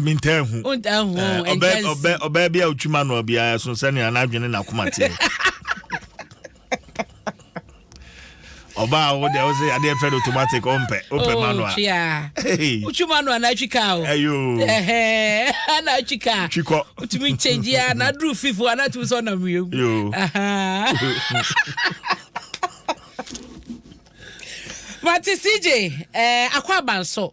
mentaa hu ɔbaa bi a ɔtwi ma noa biara ɛso sɛnea n'adwene na akoma teɛ ɔbaa wo deɛ wo sɛ adeɛ fɛ no automatic ɔmpɛ wopɛ oh, ma noa wotwi ma noa na atwi kaa o na atwi kaa twikɔ wotumi nkyɛngyi a na aduru fifo a na atumi sɛ ɔnam wiem mate cj eh, akɔ abanso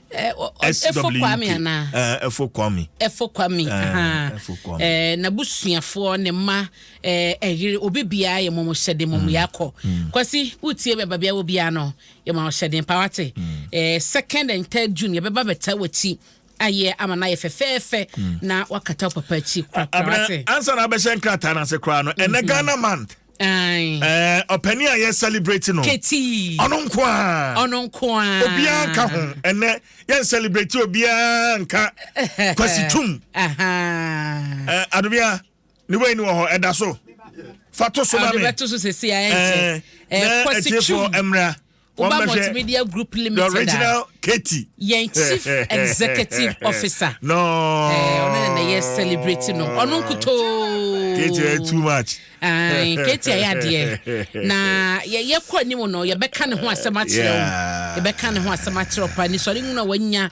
Eh, efo kwame anaa eh, efo kwame efo kwame eh, n'abusuafoɔ ne mma ɛyere obi biara yɛ mɔmɔ hyɛden mɔmɔ mm. yɛ akɔ mm. kwasi wotie bɛba bia wo biara no yɛ mɔmɔ hyɛden pa wate mm. second and third june yɛ bɛba bɛta w'akyi ayɛ ama no ayɛ fɛfɛɛfɛ na wakata papa akyi korakora wate ansa na abɛhyɛ nkrataa no ase koraa no ɛnɛ mm-hmm. ghana month Eh, ɔpɛni a yɛ celebrate no. Ketii. Ɔno nko a. Ɔno nko a. Obiara nka ho. Ɛnɛ yɛn celebrate obiara nka kwasi tum. Eh, adubia ne wei ni wɔ hɔ ɛda so. Fa to so ma mi. Ɔde bɛ to so sese a ɛnkyɛ. Eh, eh, eh kwasi tum. Ɛmra. Uba Multimedia Group Limited. The original Katie. Yɛn chief executive officer. No. Ɔno na na yɛ celebrate no. Ɔno nkutoo. Katie yɛ too much. Katie ayɛ adeɛ. Na yɛkɔ anim no yɛbɛka ne ho asɛm akyerɛ wo. Yɛbɛka ne ho asɛm akyerɛ wo paa. Nisɔre nwunu a wanya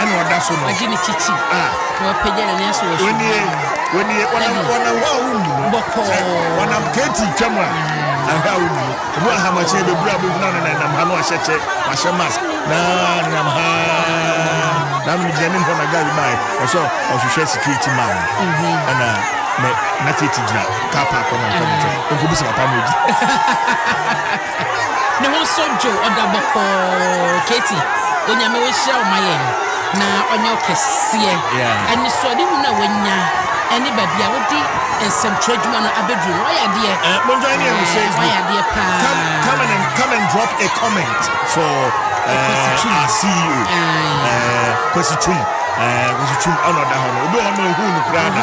ɛna ɔda so no. Wagye ne titi. Ah. Na wapagya n'ani asɔ wɔ so. Wɔnie wɔnie wɔnam wɔnam hɔ a wonni no. Bɔkɔɔ. Wɔnam keeti twam a ahwɛ a wonni no. Ebi wɔ ha machine bebura a bɛgyina no na ɛnam ha no ahyɛ kyɛ wahyɛ mask na nenam ha na mene gyina ne mpɔ na gari bae ɔsɛ ɔhwehwɛ security man mhm. ɛna na keeti gyina kaa paakɔ na nkɔ ne nkyɛn nkɔbisa papa no odi Ne ho so dwo ɔda bɔkɔɔ Katie onyame wo nhyira ɔma yɛn na ɔnyɛ ɔkɛseɛ yeah. anisoɔde hunu a wanya ɛne baabi a wode nsɛmtwerɛ adwuma no abɛduru no wayɛ adeɛ eh, monjoin yɛn wɔ eh, facebook wayɛ adeɛ paa come, come, and, come and drop a comment for uh, our ceo kwasi twum kwasi twum ɔna ɔda hɔ no obi wɔ hɔ no ma ɔhu no koraa da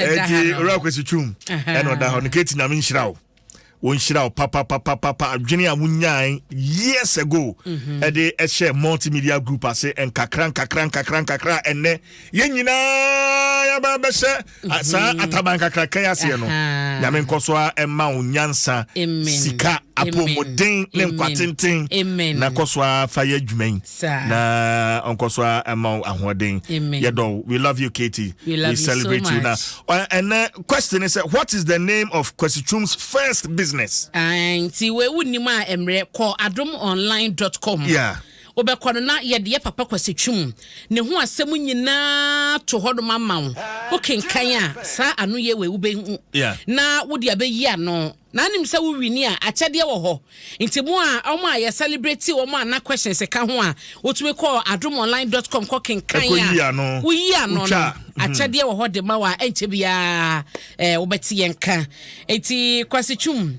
ɛti wura kwasi twum ɛna ɔda hɔ no kati nyame nhyira wo wɔnhyira wo papapapapa adwene a wonyae years ago mhm. ɛde ɛhyɛ multimedia group ase nkakra nkakra nkakra nkakra ɛnnɛ yɛn nyinaa yɛbɛbɛhyɛ saa mm-hmm. ataban kakraka yi aseɛ no nyame nkɔ so a ɛma wo nyansa sika apɔmuden ne nkwatenten na nkɔ so a fa yɛ adwuma yi na ɔnkɔ so a ɛma wo ahoɔden yɛdɔ we love you katie we, we celebrate so you na ɛnɛ question is what is the name of kwasitum's first business nti wei wonim a mmerɛ kɔ adomonline.com yeah. Wobɛkɔ no na yɛde yɛ papa Kwasi Twum ne ho asɛm nyinaa to hɔnom ama wo. Wokenkan a, saa anoyie wei wobɛhu na wode abɛyi ano. Na wonim sɛ wo wini a, akyɛdeɛ wɔ hɔ. Nti mo a, wɔn a yɛ celebrate wɔn a na questions ka ho a, wotumi kɔ adomonline dot com kɔ kenkan a, woyi ano no, akyɛdeɛ wɔ hɔ de ma wo a, ɛnkyɛ biara wobɛte yɛn nka. Nti Kwasi Twum.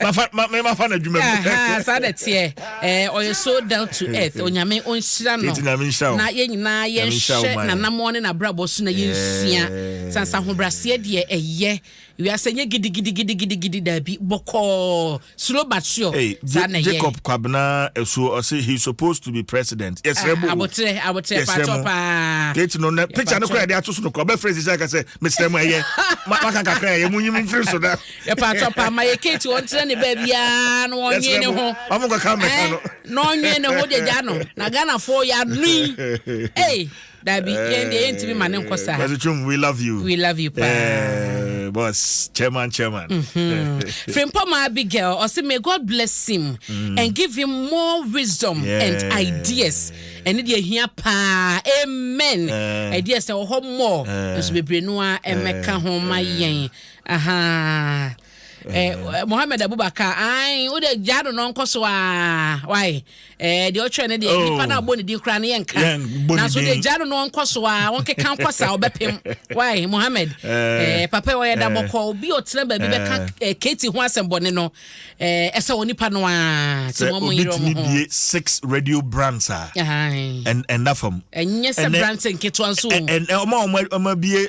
memafa no adwuma mu saa na teɛ eh, ɔyɛ so down to earth onyame ɔnhyira no na yɛn nyinaa yɛnhyɛ nanamoɔ ne nabrabɔ so na yɛnsua sansa ahobraseɛ deɛ ɛyɛ wiasɛ nyɛ gidigidigidigidi daabi bɔkɔɔ slow but sure saa na yɛ jacob kwabena ɛsuo ɔse he supposed to be president yɛsrɛ mu abotrɛ abotrɛ patɔ paa kate no na picture no kora yɛde ato so no kora ɔbɛfrɛ sisi aka sɛ mesrɛ mu ɛyɛ maka kakra ɛyɛ mu nyim mfiri so da Yɛpaatɔ paa ma yɛ Kate ɔntena ne baabi aa na ɔnwe ne ho. Ɔmo kɔ ka mɛka no. Na ɔnwe ne ho gyagya no. Na Ghana foɔ yɛ anoyi. Ei dabi yɛn deɛ yɛn timi ma ne nkɔ saa. Kwasi Twum we love you. We love you paa. Boss chairman chairman. Mm-hmm. Frimpɔ ma Abigail ɔsi may God bless him mm. and give him more wisdom yeah. and ideas. Ɛne deɛ hia paa amen. Uh, ideas na wɔ hɔ more. Nso bebree no a ɛmɛka ho ma yɛn. ahaa eh, eh, mohammed abubakar ai wode gyaa no no nkɔ so a wae eh, deɛ ɔtwerɛ no deɛ oh. nipa no a wobɔ ne din koraa no yɛnka nanso wode gyaa no no nkɔ so a wɔnkeka nkɔ sa wobɛpem wae mohammed eh. eh, papa ɔyɛ da bɔkɔ obi ɔtena baabi bɛka kati ho asɛm bɔne no ɛsɛ wɔ nipa no a sɛ obɛtumi bie six radio brands a ɛnda fam ɛnyɛ sɛ brands nketewa nso ɔma ɔma bie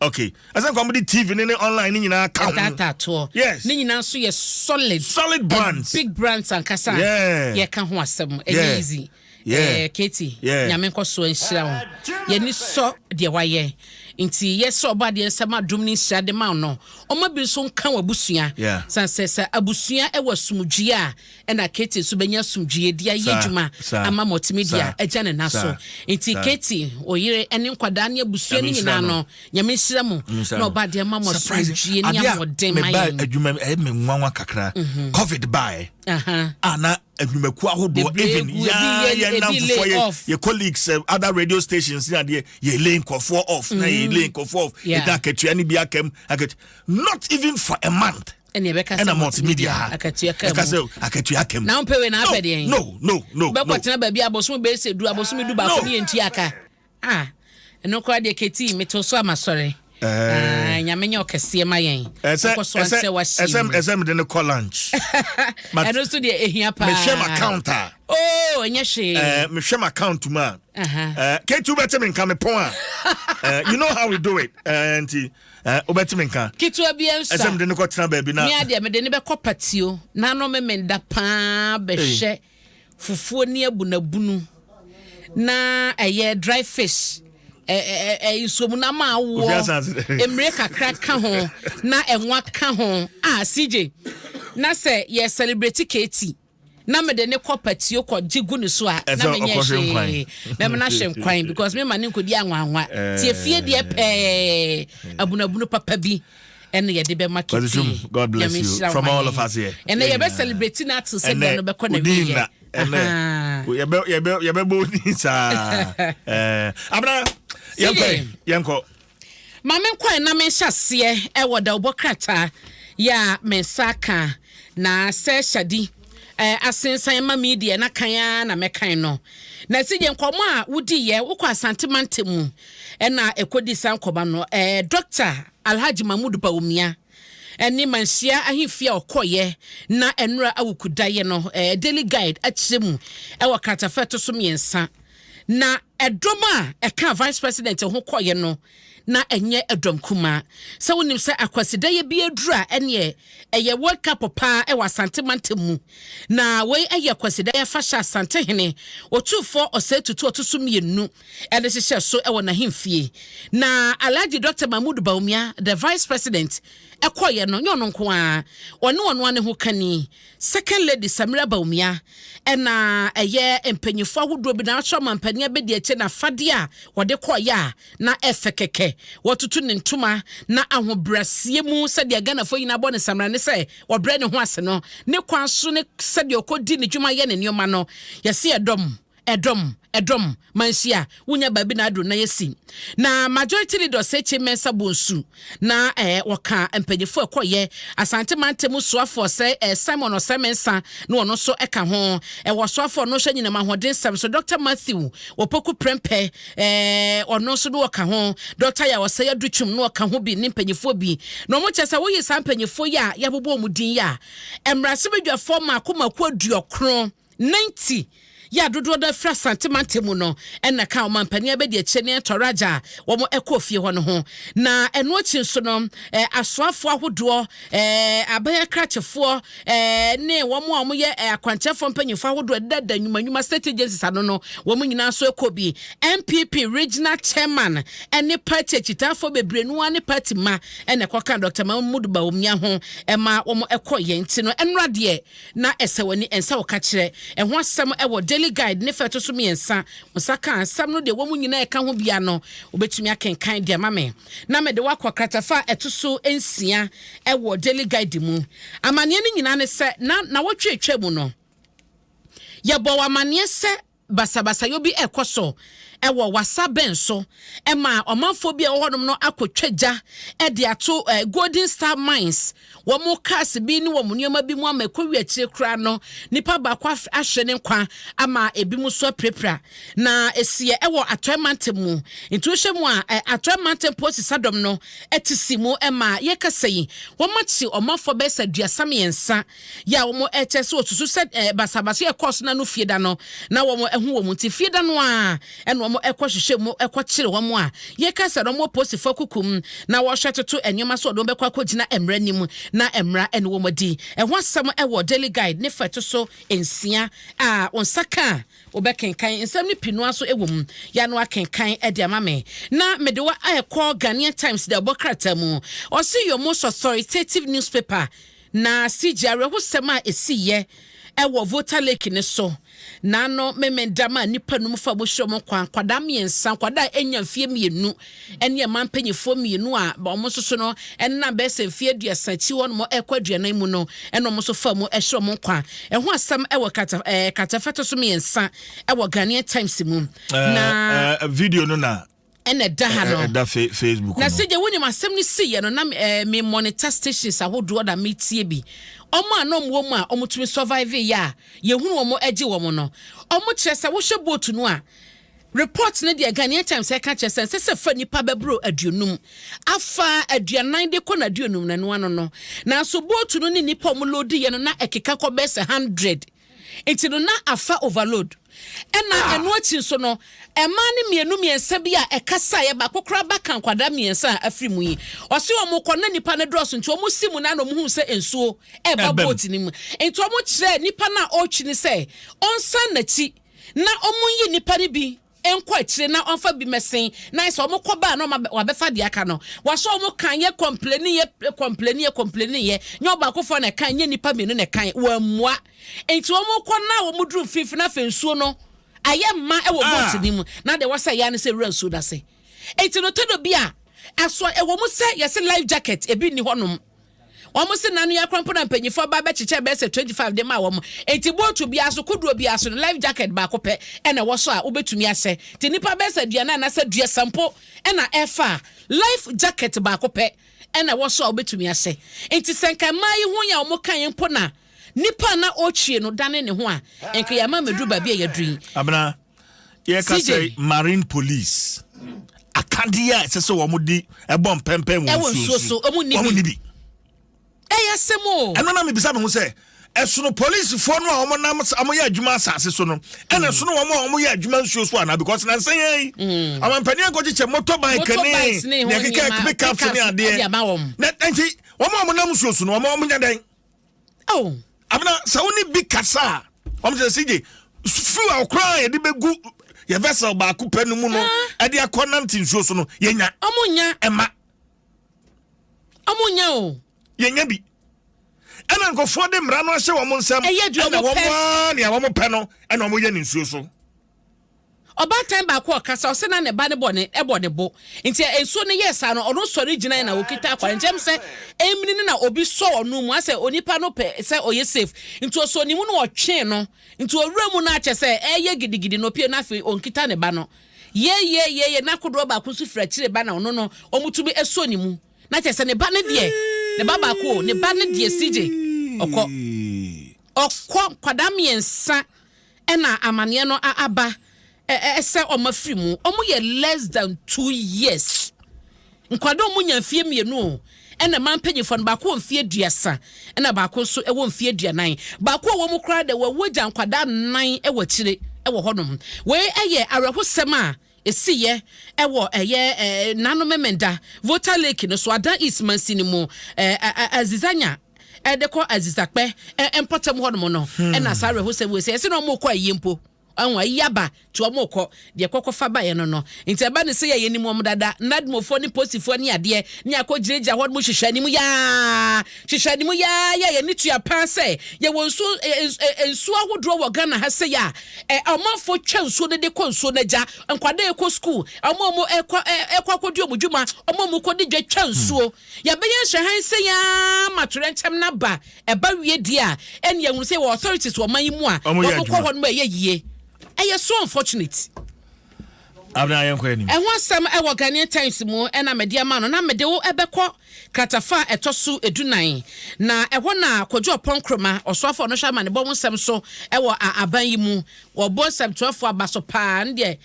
okay ɛsɛ nka wɔn de tv ne ne online ne nyinaa ka ho ɛtaataatoɔ yes ne nyinaa nso yɛ solid solid brands big brands ankasa yeah yɛka ho asɛm ɛnyɛ yeah. easy yeah. eh, katie yeah. nyame nkɔ so nhyira wo yɛni sɔ deɛ wayɛ nti yɛsɛ ɔbɔ adeɛ nsɛm adom ne nhyira de ma no ɔma bi nso nka wɔ abusua yeah. san sɛ sɛ abusua ɛwɔ asomdwie a ɛna Katie nso bɛnya asomdwoeɛ de ayɛ adwuma ama multimedia agya ne nan so nti Katie oyere ne nkwadaa ne abusua no nyinaa no nyame nhyira mu na ɔba adeɛ ma mo asomdwoeɛ ne ahoɔden ma yɛn adwuma ɛyɛ me nwanwa kakra mhm. covid baeɛ a na adwumakuo ahodoɔ even yɛn namfofoɔ yɛ yɛ colleagues eh, other radio stations ne adeɛ yɛ lay nkɔfoɔ off na yɛ lay mhm. nkɔfoɔ off yɛda akatua ne bi akam akatua not even for a month ɛna ɛbɛka sɛ multimedia ha akatua ka mu ɛka sɛ akatua ka mu na mpɛ wei na apɛ deɛ no no no bɛkɔ tena baabi abosom bɛyɛ sɛ du abosom du baako ne yɛn tua ka ah ɛno koraa deɛ kɛti meto so ama sɔre eh. ah, nyame nyɛ ɔkɛseɛ ma yɛn ɛkɔ so ansɛ wahyɛm ɛsɛ mede no kɔ lunch ɛno so deɛ ɛhia paa mehwɛ m account a o oh, ɛnyɛ hwee eh, mehwɛ m account mu a eh, kɛti wobɛte me nka mepɔn a you know how we do it nti uh, Eh, wobɛtumi nka. Ketewa bi nso a. Ɛsɛ mede no kɔtena baabi na. Mea deɛ mede no bɛkɔ patio na ano meme da paa bɛhwɛ fufuo ne abunabunu na ɛyɛ dry fish nsuomu na ama awoɔ mmire kakra ka ho na ɛnwa ka ho a ah, CJ na sɛ yɛ celebrate Katie na mede ne kɔ patio kɔ gye gu ne so a na menyɛ hwee mɛma no ahwɛ nkwan because mema ne nkɔdi anwanwa nti efie deɛ pɛɛ abunabunu papa bi ɛna yɛde bɛma kete God bless you from all of us here ɛna yɛbɛ celebrate na ato sɛ deɛ no bɛkɔ na wie yɛ yɛbɛbɔ odin saa abena yɛnkɔ yɛnkɔ Ma menkɔ na menhyɛ aseɛ wɔ dawubɔ krataa yɛ a me nsa aka na sɛ Shadi asensan ma me deɛ na kan ara na mɛkan no. Na si gye nkɔmɔ a wodiiɛ wokɔ Asante mantam mu na ɛkɔdi saa nkɔmɔ no. Dɔkta Alhaji Mahmood Bawumia ne Manhyia ahemfie a ɔkɔeɛ na Anura Awuku daeɛ no Daily Guide akyerɛ mu wɔ kratafa ɛto so mmiɛnsa. Na ɛdɔm a ɛkaa Vice President ho kɔeɛ no, na ɛnyɛ ɛdɔm kumaa. Sɛ wonim sɛ Akwasidayɛ bi aduru a, ɛneɛ ɛyɛ World Cup paa wɔ Asante mantam mu. Na wei yɛ Akwasidayɛ afahyɛ a Asantehene Otumfoɔ Osei Tutu a ɔto so mmienu de hyehyɛɛ so wɔ n'ahemfie. Na Alhaji Doctor Mahmood Bawumia, the Vice President, kɔeɛ no, nyɛ ɔno nko ara, ɔne ɔno ara ne hokani, Second Lady Samira Bawumia na ɛyɛ mpanyinfoɔ ahodoɔ bi na akyerɛ ɔmanpanin abɛdiakyire na afadeɛ a wɔde kɔɔeɛ a na ɛfɛ kɛkɛ. Wɔatutu ne ntoma na ahobraseɛ mu sɛdeɛ Ghanafoɔ nyinaa bɔ ne samina ne sɛ ɔbrɛ ne ho ase no, ne kwan so ne sɛdeɛ ɔkɔdi ne dwuma yɛ ne nneɛma no, yɛse yɛdɔ mo. Ɛdɔm, ɛdɔm, manhyia, wonya baabi na aduru na yɛsi. Na majority leader Sekye Mensah bɔ nsu, na eh, wɔka mpanyinfo ɛkɔyɛ, Asante Mante mu soafoɔ sɛ eh, Simon Osei Mensah, na ɔno nso ɛka ho. Ɛwɔ ɔsoafoɔ no hwɛ nyinam ahoɔden nsɛm so, Doctor Matthew Opoku Prempeh, eh, ɔno nso na ɔka ho, Doctor Yaw Osei Adutwum na ɔka ho bi ne mpanyinfoɔ bi. Na wɔn kyɛ sɛ woyi saa mpanyinfoɔ yi a yɛabobɔ wɔn din yi a, mmarahyɛbadwafoɔ mmaako mmaako aduɔkron, 90 yɛ a dodoɔ no afiri Asante mantam mu no na ka ɔmampanin Abedi Akyire ne Ɛtɔ Raja a wɔkɔɔ fie hɔ no ho. Na ɛno akyi nso no, asoafoɔ ahodoɔ, aban akrakyefoɔ ne wɔn a wɔyɛ akwankyerɛfoɔ mpanyinfoɔ ahodoɔ ɛdedada nnwuma nnwuma state agencies ano no, wɔn nyinaa nso ɛkɔ bi. NPP regional chairman ne party akyitaafoɔ bebree no ara ne party mma na ɛkɔka Dr. Mahmood Bawumia ho ma wɔn ɛkɔ yɛn ti no. Ɛnora deɛ Ná ɛsɛ w'ani ɛnsɛ wo ka kyerɛ. Ɛho asɛm wɔ Daily Guide ne fa a ɛto so mmiɛnsa. Wo nsa ka asɛm no, deɛ ɛwɔ mu nyinaa a ɛka ho biara no, wobɛtumi akenkan de ama me, na mede wo akɔ kratafa a ɛto so nsia wɔ Daily Guide mu. Amanneɛ no nyinaa ne sɛ, na nnawɔtwe a ɛtwaam no, yɛbɔɔ wo amanneɛ sɛ, basabasayɔ bi rekɔ so wɔ wasa bɛn so ma ɔmanfoɔ bi a ɛwɔ hɔnom no akɔtwa gya de ato Golden Star Mines wɔn cars bi ne wɔn nneɛma bi mu ama ɛkɔwi akyire koraa no nipa baako ahwere ne nkwa ama ebi mu so apirapira na ɛsiɛ ɛwɔ Atɔe Mantam mu nti wohyɛ mu a Atɔe Mantam Polisi Sadɔm no ɛte si mu ɛma yɛkasa yi wɔn akye ɔmanfoɔ bɛyɛ sɛ aduasa mmiɛnsa yɛ a wɔkyɛ sɛ wɔsusu sɛ basabasa a ɛkɔɔ so na no fie da no, na wɔahu wɔn nti, fie da no ara na wɔkɔhwehwɛ mu kɔkyere wɔn a yɛka sɛ wɔwɔ Polisifo akuku mu na wɔhwɛ toto nneɛma so a wɔde wɔn bɛkɔ akɔgyina mmara anim na mmara ne wɔn adi. Ɛho asɛm wɔ Daily Guide ne fa a ɛto so nsia a wo nsa ka a wobɛkenkan. Nsɛm no pii no ara nso wɔ mu. Yɛ a na wɔakenkan de ama me na mede wo rekɔ Ghanaian Times de abɔ krataa mu. Ɔse, Your most authoritative newspaper Na CJ awerɛhosɛm a ɛsiiɛ wɔ Volta Lake no so, Naano Memendam a nnipa num fa mu hwere wɔn nkwa, nkwadaa mmiɛnsa, nkwadaa a ɛnya mfeɛ mmienu ne mmaa mpanimfoɔ mmienu a wɔn nso so no nam bɛyɛ sɛ mfeɛ aduasa akyi hɔ nom ɛkɔ aduanan mu no ɛna wɔn nso fa mu hwere wɔn nkwa. Ɛho asɛm wɔ kata ɛɛ katafɛto so mmiɛnsa ɛwɔ Ghanaian Times mu. Na video no na ɛna ɛda ha no ɛda facebook no na sɛ gya wonim asɛm no si yɛ no na eh, me monitor stations ahodoɔ na metie bi ɔmo a na ɔmo wɔ mu a ɔmo tumi survive yɛ a yɛhunu ɔmo agye wɔn no ɔmo kyerɛ sɛ wohwɛ boat no a report no deɛ Ghanaian Times ɛka kyerɛ sɛ ɛsɛ sɛ fa nipa bɛboro aduonum afa aduanan de kɔ na aduonum na ɛno ano no nanso boat no ne nipa ɔmo loadi yɛ no na ɛkeka kɔ bɛsɛ hundred Nti no na afa overload. Ɛna ɛno akyi nso no, mmaa no mmienu mmiɛnsa bi a ɛkasaeɛ, baako koraa ba ka nkwadaa mmiɛnsa a afiri mu yi. Ɔse wɔn kɔ no na nnipa no dɔɔso nti wɔn si mu no ara na wɔn hunu sɛ nsuo reba boat no mu. Nti wɔn kyerɛɛ nipa no a ɔretwi no sɛ ɔnsan n'akyi na wɔnyi nnipa no bi nkɔ akyire na ɔmfa bi mɛsen na sɛ ɔmo kɔ baa na ɔma wabɛfa deɛ aka no wahyɛ ɔmo kan yɛ kɔmpleni yɛ kɔmpleni yɛ kɔmpleni yɛ nyɛ ɔbaakofoɔ na ɛkan nyɛ nipa mmienu na ɛkan wɔammua nti ɔmo kɔ na ɔmo duru mfimfini na afei nsuo no ayɛ mma ɛwɔ ah. boat no mu na deɛ wɔsɛ yɛ ano sɛ wura nsuo no ase nti no tɔdɔ bi a ɛso ɛwɔ mu sɛ yɛsɛ life jacket ebi nni hɔnom. Wɔn se nna no yɛ krɔnpo na mpanyinfoɔ baa bɛkyekyɛɛ bɛyɛ sɛ 25 de maa wɔn. Enti bootu biara so, kodoɔ biara so no, life jacket baako pɛ na ɛwɔ so a wobetumi ahyɛ. Te nnipa bɛyɛ sɛ aduanan anaasɛ aduasa mpo na ɛfa a, life jacket baako pɛ na ɛwɔ so a wobetumi ahyɛ. Enti sɛ nka mmaa yi ho yɛ a wɔkaeɛ mpo na nipa a na ɔretwie no dane ne ho a, nka yɛama mmeduru baabi a yɛaduru yi. Abena, yɛka sɛ marine police akadeɛ a ɛsɛ sɛ wɔn de ɛbɔ mpɛmpɛn wɔ nsuo so wɔn ni bi ɛyɛ asɛm o ɛno na mebisa me ho sɛ ɛsono polisifoɔ no a wɔn nam wɔn yɛ adwuma asase so no ɛna mm. ɛsono wɔn a wɔn yɛ adwuma nsuo so ana because na nsɛn yɛn yi mm. amampanin akɔkyekyɛ motorbike ne ne ɛkeka pickup ne adeɛ na nti wɔn a wɔn nam nsuo so no wɔn wɔn nya dɛn. Oh. Abena, sɛ wo ne bi kasa a, wɔn sɛ sigye fuel a ɔkora a yɛde bɛgu yɛ vessel baako pɛ no mu no ah. ɛde akɔ nante nsuo so no yɛnya. Ɔmo nya. Ɛma. Ɔmo nya o. Yɛnya bi. Ɛna nkurɔfoɔ de mmara no ahyɛ wɔn nsam. Ɛyɛ deɛ wɔn pɛ. Ɛna wɔn a nea wɔn pɛ no ɛna wɔn yɛ ne nsuo so. Ɔbaatan baako a ɔkasa, ɔsɛ na ne ba no bɔ ne bɔ ne bo. Nti nsuo no yɛɛ saa no, ɔno sɔre gyinae na ɔkita akwankyɛm sɛ ɛmini no na obi sɔ ɔno mu asɛ onipa no pɛ sɛ ɔyɛ safe. Nti ɔsɔ ne mu na ɔtwee no. Nti ɔwura mu no akyɛ sɛ ɛɛyɛ gidigidi na ɔpue na afei ɔnkita ne ba no. Yeeyeeyeeye na kodoɔ baako nso firi akyire ba na ɔno no wɔtumi sɔ ne mu. Na kyerɛ sɛ ne ba no deɛ, ne ba baako o, ne ba no deɛ CJ ɔkɔ. Ɔkɔ nkwadaa mmiɛnsa na amaneɛ no aba sɛ wɔn afiri mu wɔn yɛ less than two years nkwadaa wɔn nya mfie mmienu o ɛna mmaa mpanyinfoɔ no baako wɔ mfie aduasa ɛna baako nso ɛwɔ mfie aduanan baako a wɔn mu koraa dɛ wɔwɔ gya nkwadaa nan ɛwɔ akyire ɛwɔ hɔnom wei ɛyɛ awerɛhosɛm a Ɛsiiɛ ɛwɔ ɛyɛ Nano Memenda, Volta Lake no so, Adan East mansini mu, Azizanya ɛde kɔ Azizakpɛ mpɔtam hɔ nom no, ɛna saa awerɛhosɛm wei sɛ yɛse na ɔmokɔ ayie mpo, ɔho ayi aba nti ɔmokɔ, deɛ kɔkɔ fa baeɛ no no, nti ɛba ne sɛ yɛ yɛnim wɔn dada, Nadmofoɔ ne Posifoɔ ne adeɛ, ne akɔ gyinagyina hɔ nom hwehwɛ anim yaa. Hyehyɛ ne mu yaa yɛ yɛni tua paa sɛ yɛwɔ nsuo ɛ nsuo ahodoɔ wɔ Ghana ha sɛ ya ɛ ɔmanfoɔ twa nsuo no de kɔ nsuo no agya nkwadaa ɛkɔ school ɔmo a ɔmo ɛkɔ ɛ ɛkɔ akɔdi ɔmo dwuma ɔmo a ɔmo kɔ di dwa twa nsuo yɛbɛyɛ nhwɛhan sɛ ya ma torɛnkyɛm no aba ɛba wie deɛ a ɛne yɛhunu sɛ yɛwɔ authorities wɔ ɔman yi mu a ɔmo kɔ hɔ nom a ɛyɛ yie ɛyɛ so unfortunate. Ɛho asɛm wɔ Ghanaian Times mu na mede ama no, na mede wo bɛkɔ kratafa a ɛtɔ so dunan, na ɛhɔ na Kojo Oppong Nkrumah, Ɔsoafo a Ɔnohwɛ Amanebɔ ho nsɛm so wɔ a aban yi mu, wɔbɔ nsɛmtwerɛfoɔ aba so paa, ne deɛ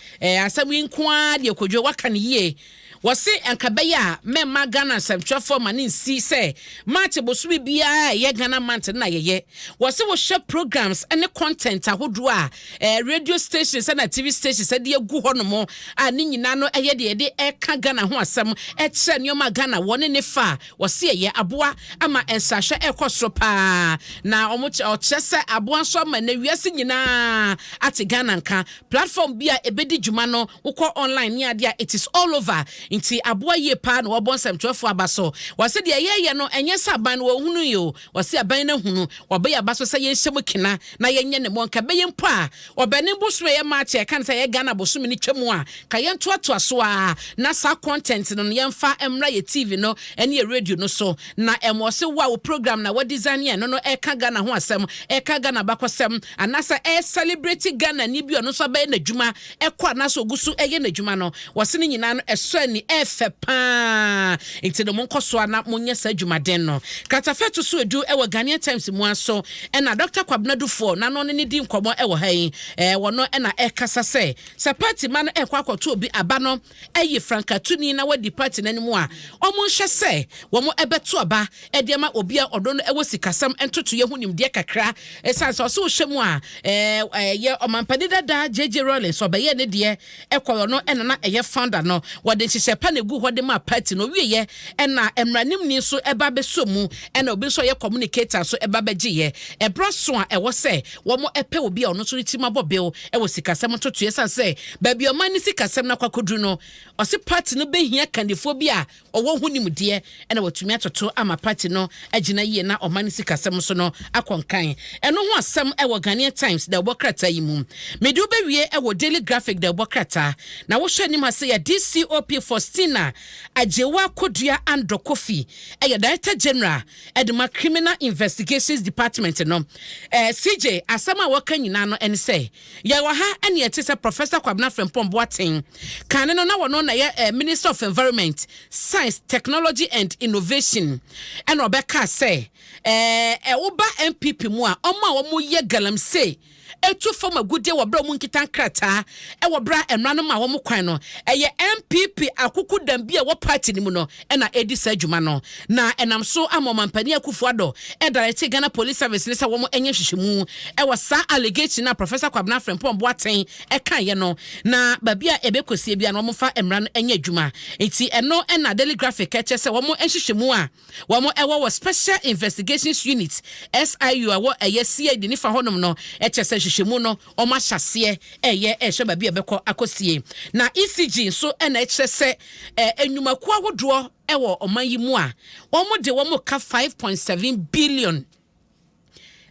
asɛm yi nko ara deɛ Kojo waka no yie. Wɔse anka ɛbɛyɛ a mɛmma Ghana nsɛmtwerɛfoɔ ma no nsi sɛ March bosome biara a ɛyɛ Ghana month no na yɛyɛ. Wɔse wohwɛ programmes ne content ahodoɔ a ɛɛ radio stations ɛna TV stations ɛde agu hɔ nom a ne nyinaa no ɛyɛ deɛ yɛde ɛka Ghana ho asɛm ɛkyerɛ nneɛma a Ghana wɔ ne ne fa a wɔse ɛyɛ aboa ama nsrahwɛ ɛkɔ soro paa na wɔkyerɛ ɔkyerɛ sɛ aboa nso ama nnɛ wiase nyinaa ate Ghana nka Platform bi a ebedi dwuma no wokɔ online ne ade a it is all over nti aboa yie paa na wɔabɔ nsɛmtwerɛfoɔ aba so. Wɔse deɛ yɛɛyɛ no ɛnyɛ sɛ aban no wɔnhunuu yɛ o, wɔse aban no ahunu, wɔabɔ yɛ aba so sɛ yɛnhyɛ mu kena na yɛnyɛ ne mɔ nka ɛbɛyɛ mpo a wɔbɛne bosome ɛyɛ March a ɛka ne sɛ ɛyɛ Ghana bosome no twa mu a ka yɛntoatoa so ara na saa content no no yɛmfa mmra yɛ TV no ne yɛ radio no so Na ɛmɔ se wo a wo program na wa design yɛ no no ɛka Ghana ho asɛm, ɛka Ghana abakɔsɛm, anasa ɛ celebrate Ghana ni bi ɔno nso abɛyɛ n'adwuma ɛkɔ anasa ogu so ɛyɛ n'adwuma no, wɔse ne nyinaa no ɛsɔ ani, ɛfɛ paa, nti no mo nkɔ so ara na mo nyɛ saa adwumaden no. Kratafa ɛto so edu ɛwɔ Ghanaian Times mu ara so ɛna Doctor Kwabena Dufour na no ne ne di nkɔmɔ ɛwɔ ha yi, ɛɛ wɔno ɛna ɛkasa sɛ, sɛ party ma no ɛkɔ akɔto obi aba no, ayi frankatuni na wadi party no anim a, wɔnhwɛ sɛ wɔbɛto aba de ama obi a ɔno no wɔ sikasɛm ntotoeɛ ho nimdeɛ kakra. Ɛsiane sɛ ɔsɛ ɔhyɛ mu a, ɛyɛ ɔmampanin dada JJ Rawlings ɔbɛyɛ ne deɛ ɛkɔe ɔno ɛna na ɛyɛ founder no. Wɔde nhyehyɛ pa na egu hɔ de maa party no. Ɔwieɛ ɛna mmranimni nso ɛba bɛsɔ mu ɛna obi nso a ɔyɛ communicator nso ɛba bɛgyeeɛ. Ɛberɛ aso a ɛwɔ sɛ wɔpɛ obi a ɔno nso ne tirim abɔ bew wɔ sikasɛm ntotoeɛ ɛsiane sɛ baabi a ɔman ne sikasɛm no akɔ akɔduru no, ɔse party no bɛhia kandifoɔ bi a ɔwɔ ho nimdeɛ na watumi atoto ama party no agyina yie na ɔman ne sikasɛm nso no akɔ nkan. Ɛno ho asɛm wɔ Ghanaian Times dawubɔ krataa yi mu. Mede wo bɛwie wɔ Daily Graphic dawubɔ krataa. Na wohwɛ anim ha sɛ yɛ DCOP Faustina Agyewa Kodua Andor Kofi yɛ Director General ɛde ma Criminal Investigations Department no, eh, CJ, asɛm a wɔka nyinaa no ɛne sɛ, yɛwɔ ha ɛne ɛte sɛ Professor Kwabena Frimpong Boateng, kane no na wɔno na yɛ eh, Minister of Environment, Science, Technology and Innovation, ɛna ɔbɛka sɛ, eh, ɛwoba eh, NPP mu a, ɔmo a wɔyɛ galamsey, etu fam agudeɛ wɔ berɛ a wɔnkita nkrataa wɔ berɛ a mmara no ma wɔn kwan no. Ɛyɛ NPP akokodam bi a ɛwɔ party no mu no na ɛredi saa dwuma no, na ɛnam so ama Ɔmampanin Akufo-Addo ɛdaretee Ghana Police Service no sɛ wɔn nyɛ nhwehwɛmu wɔ saa allegation no a Professor Kwabena Frimpong Boateng kaeɛ no, na baabi a ɛbɛkɔsie biara no wɔmfa mmara no nyɛ adwuma. Nti ɛno na Daily Graphic kyerɛ sɛ wɔn nhwehwɛmu a. wɔn ɛwɔ wɔ Special Investigations Unit, SIU, a wɔ ɛyɛ CID nifa hɔnom no kyerɛ sɛ nhwehwɛmu no wɔn ahyɛ aseɛ reyɛ rehwɛ baabi a ɛbɛkɔ akɔsie. Na ECG nso na ɛkyerɛ sɛ nnwumakuo ahodoɔ wɔ ɔman yi mu a wɔn de wɔn reka five point seven billion.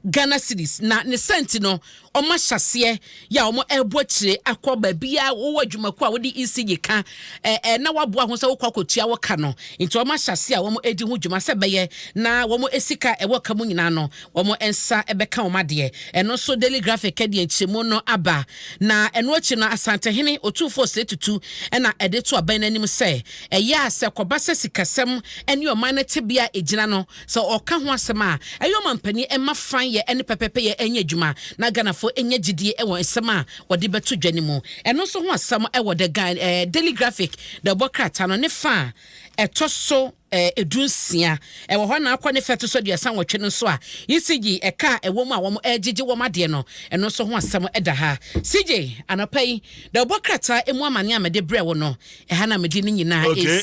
Ghana cedis na ne saa nti no wɔn ahyɛseɛ yɛ a wɔn ɛrebɔ akyire akɔ baabi a wɔwɔ adwumakuo a wɔde ECG ka ɛɛ eh, eh, na waboa ho sɛ wɔkɔ akɔtua wɔ ka no nti wɔn ahyɛseɛ a wɔn ɛredi ho dwuma sɛ bɛyɛ na wɔn esika ɛwɔ ka mu nyinaa no wɔn nsa ɛbɛka wɔn adeɛ ɛno nso Daily Graphic ɛde nkyerɛmu no aba na ɛno akyi no Asantehene Otumfoɔ Sire Tutu ɛna ɛde to abɛn n'anim sɛ ɛyɛ a sɛ kɔba sɛ sikasɛm ɛne ɔman no tebea a ɛgyina no Sɛ ɔka ho asɛm a, ɛyɛ ɔmampanin mma fann yɛ ɛne pɛpɛpɛ yɛ ɛnyɛ adwuma na Ghanafoɔ ɛnya gyidie wɔ nsɛm a wɔde bɛto dwa no mu. Ɛno nso ho asɛm wɔ The Ga eh, Daily Graphic na ɛbɔ krataa no ne fa a ɛtɔ so eh, edu nsia. Ɛwɔ hɔ na akɔ ne fa ɛto so aduasa nwɔtwe no nso a ECG ɛka a ɛwɔ mu a wɔn ɛregyegye wɔn adeɛ no, ɛno nso ho asɛm ɛda ha. CJ, anɔpa yi, na ɛbɔ krataa ɛmu amane a mede brɛ wo no, ɛha na mede ne nyinaa Okay. ɛsi.